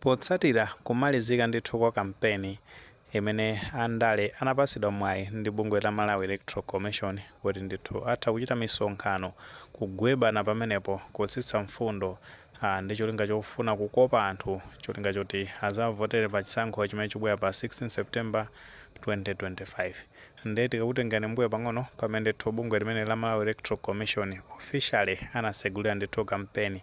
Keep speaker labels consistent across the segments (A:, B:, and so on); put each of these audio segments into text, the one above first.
A: Potsatira kumalizika ndithu kwa kampeni imene andale anapatsidwa mwayi ndi bungwe la Malawi Electoral Commission kuti ndithu atha kuchita misonkhano kugwebana pamenepo kutsitsa mfundo ah, ndi cholinga chofuna kukopa anthu cholinga choti azavotere pa chisankho chimene chibwera pa 16 September 2025 nde tikakutengerani m'mbuyo pang'ono pamene ndithu bungwe limene la Malawi Electoral Commission officially anatsegulira ndithu kampeni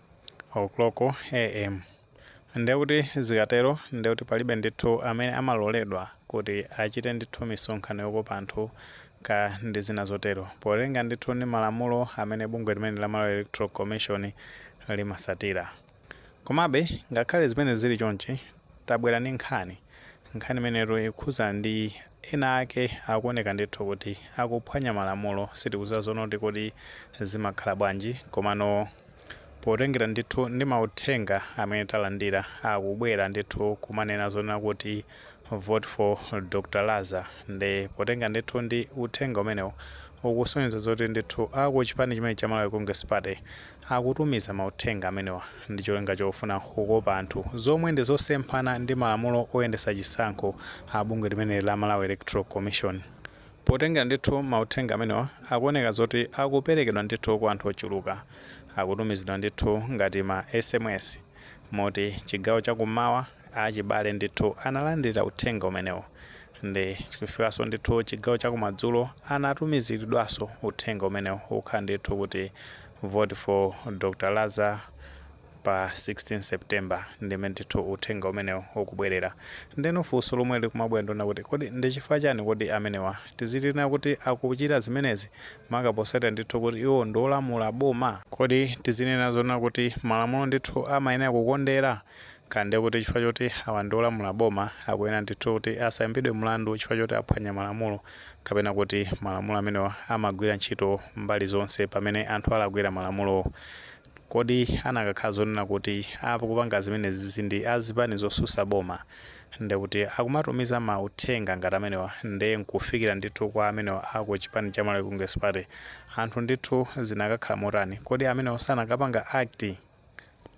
A: o'clock am ndiye kuti zikatero ndiye kuti palibe ndithu amene amaloledwa kuti achite ndithu misonkhano yokopa anthu ka ndi zina zotero potengera ndithu ndi malamulo amene bungwe limene la Malawi Electoral Commission limasatira komabe ngakhale zimene zili chonchi Tabwera ndi nkhani. Nkhani imeneyitu ikukhudza ndi enaake akuoneka ndithu kuti akuphwanya malamulo. Sitikudziwa zonena kuti kodi zimakhala bwanji komano potengera ndithu ndi mauthenga amene talandira akubwera ndithu kumanena zonena kuti vote for Dr Laza nde potengera ndithu ndi uthenga umenewu ukusonyeza zoti ndithu akuchipani chimenechi cha Malawi Congress Party Akutumiza mauthenga amenewa ndi cholinga chofuna kukopa anthu, zomwe ndi zosemphana ndi malamulo oyendetsa chisankho a bungwe limeneli la Malawi Electoral Commission. Potengera ndithu mauthenga amenewa, akuoneka zoti akuperekedwa ndithu kwa anthu ochuluka. Akutumizidwa ndithu ngati ma sms, moti chigawo cha kummawa, achibale ndithu analandira uthenga umenewu. Nde kufikanso ndithu chigawo cha kumadzulo anatumiziridwanso uthenga umenewo ukukhala ndithu kuti vote for Dr Laza pa 16 September ndi m'mene ndithu uthenga umenewo ukubwelera. Ndeno funso lomwe likumabwera ndilonena kuti kodi ndi chifukwa chani kodi amenewa tizinena kuti akuchita zimenezi maka posatira ndithu kuti iwo ndi olamula boma? Kodi tizinena zonena kuti malamulo ndithu amayenera kukondera? Kaya ndiye kuti chifukwa choti awa ndi olamula boma akuyenera ndithu kuti asaimbidwe mlandu chifukwa choti aphwanya malamulo kapena kuti malamulo amenewa amagwira ntchito mbali zonse pamene anthu alakwira malamulowo. Kodi anakakhala zonena kuti akupanga zimenezi ndi a zipani zotsutsa boma, ndiye kuti akumatumiza mauthenga ngati amenewa ndiye n'kufikira ndithu kwa amenewa a ku chipani cha Malawi Congress Party, anthu ndithu zinakakhala motani? Kodi amenewa sanakapanga act?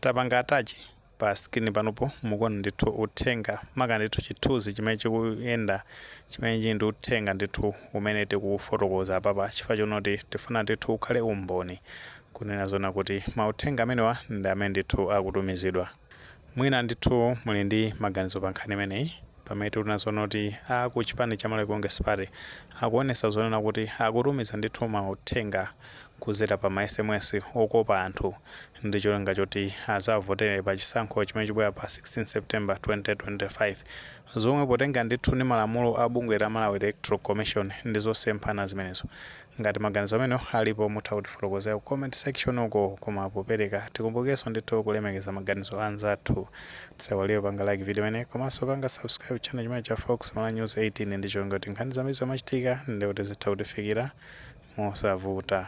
A: tapanga attach pa screen panopo mukuona ndithu uthenga maka ndithu chithunzi chimene chikuyenda chimene chili ndi uthenga ndithu umene tikufotokoza apapa chifukwa chonena kuti tifuna ndithu ukhale umboni kunena zonena kuti mauthenga amenewa ndi amene ndithu akutumizidwa mwina ndithu muli ndi maganizo pa nkhani imeneyi pamene tikunena zonena kuti a ku chipani cha Malawi Congress Party akuonesa zonena kuti akutumiza ndithu mauthenga kuzera pa ma sms okopa anthu ndi cholinga choti azavotere pa chisankho chimene chibwera pa 16 September 2025 zomwe potengera ndithu ndi malamulo a bungwe la Malawi Electoral Commission ndi zosemphana zimenezo. Ngati maganizo amenewo alipo mutha kutifotokozera ku comment section uko koma popereka tikumbukirenso ndithu kulemekeza maganizo a anzathu. Tisaiwale kupanga like video imeneyi komanso kupanga subscribe channel chimenechi cha Fox Malawi News 18 ndi cholinga kuti nkhani zambiri zomachitika ndi kuti zitha kutifikira mosavuta.